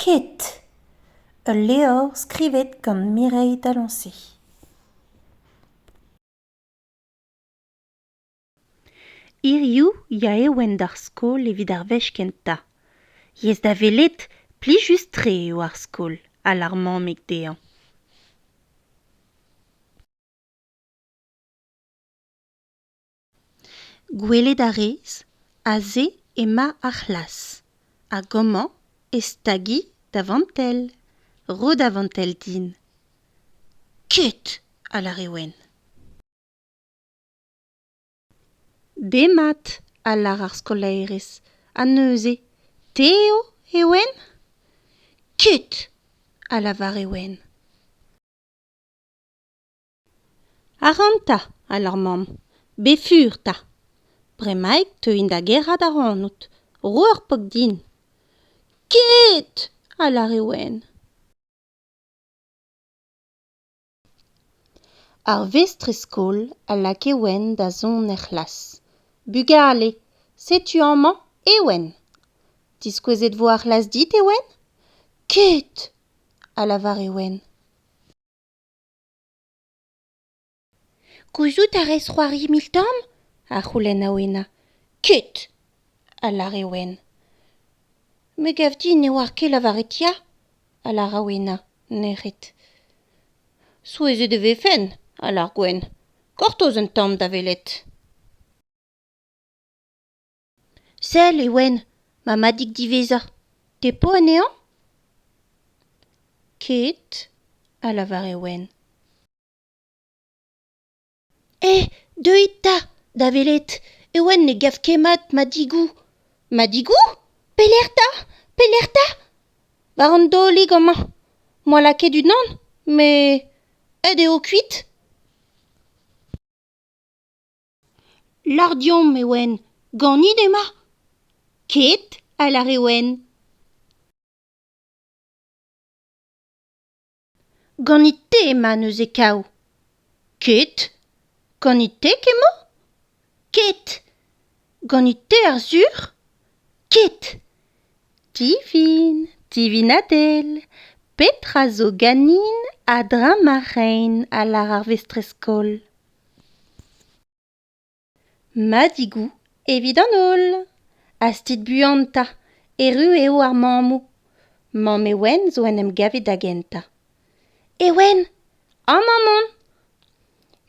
Ket. Ul levr skrivet gant Mireille Dalancey. Hiziv ya eo en d'ar skol evit ar wech kentañ. Yes da welet, plijus-tre eo ar skol, ha l'ar mammig dezhañ. gwelet a rez aze emañ ar c'hlas hag amañ e stagi da vantell ro da vantell din ket a lâre wenn demat a lâr ar skolaerez ha neuze te eo e ouenn ket a lavare wenn Arc'hant 'ta, alar mamm, befur 'ta. Bremaik 'teuin da gerc'hat ac'hanout, ro ur pok din. Ket! a lâre Wenn. Ar vestrez-skol a lakae Wenn da zont er c'hlas. Bugale, setu amañ Ewen. Diskouezet vo ar c'hlas dit, Ewen ? Ket! a lavare Wenn. Gouzout a rez c'hoari mil-tamm? a c'houlenna Wena. Ket, a lâre Wen. Me gav din ne oar ket lavaret ya, a lâra Wena, nec'het. Souezhet e vefen, a lâr Gwen. Gortoz un tamm da welet. Sell, Ewen, ma madig diwezhañ, te 'po anezhañ ? Ket, a lavar Ewen. Eh, deuit 'ta, da welet, Ewen ne gav ket mat madigoù. Madigoù ? Pelec'h 'ta ? Pelec'h 'ta ? War an daolig amañ. 'moa lakaet unan, met aet eo kuit. Lardiomp e oan ganit ema ? Ket, a lâre Wenn. Ganit te ema neuze kav ? Ket. Ganit te kemmañ ? Ket. Ganit te ar sur ? Ket. Tifin, Tivin Adel, petra zo ganin a-dreñv ma rein a lâr ar vestrez-skol. Madigou evit an holl. Hastit buan 'ta, erru eo ar mammoù. Mamm Ewen zo en em gavet da gentañ. Ewen, amañ on!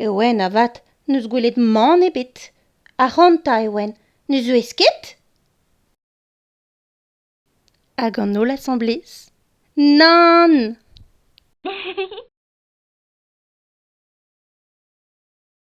Ewen avat n'eus gwelet mann ebet. Ac'hanta, Ewen, ne zeuez ket? Hag an holl asamblez Nann